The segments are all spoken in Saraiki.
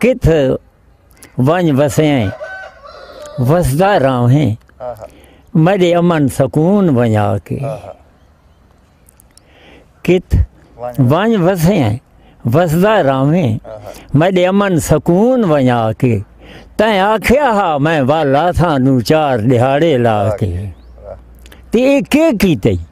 کتھ ونج وسیں وسدا راہیں میڈے امن سکون ونجا کے کت ونج وسیں وسدا راہیں میڈے امن سکون ونجا کے تیں آکھیا ہا میں والا تھا نو چار دیہاڑے لا کے تے اے کے کیتے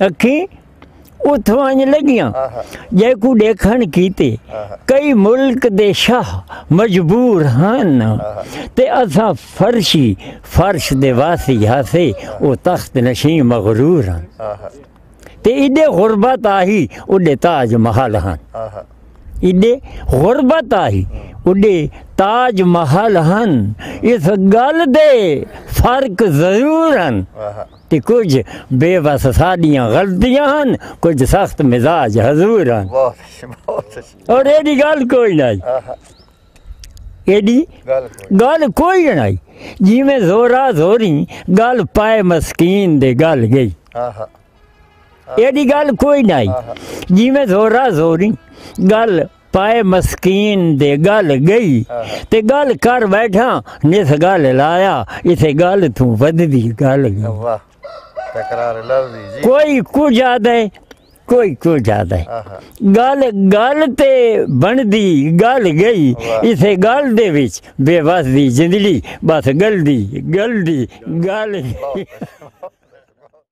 اکھیں اتھوں انج لگیاں جیکوں ڈیکھن کیتے کئی ملک دے شاہ مجبور ہن تے اساں فرشی فرش دے واسی ہاسے او تخت نشیں مغرور ہن تے ایڈے غربت آہی اڈے تاج محل ہن ایڈے غربت آہی اڈے تاج محل ہن اس گل دے فرق ضرور ہن تے کجھ بے وس ساڈیاں غلطیاں ہن کجھ سخت مزاج حضور ہن اور ایڈی گل کوئی نہ ایڈی گل کوئی نہ جی میں زورا زوری گل پائے مسکین دے گل گئی ایڈی گل کوئی نہ جی میں زورا زوری گل پائے مسکین دے گل گئی تے گل کر بیٹھا نس گل لایا اسے گل تو وددی گل کوئی کچھ آدھے کوئی کچھ آدھے گل گل تے بندی گل گئی اسے گل دے وچ بے وس دی زندگی بس گل دی گل دی گل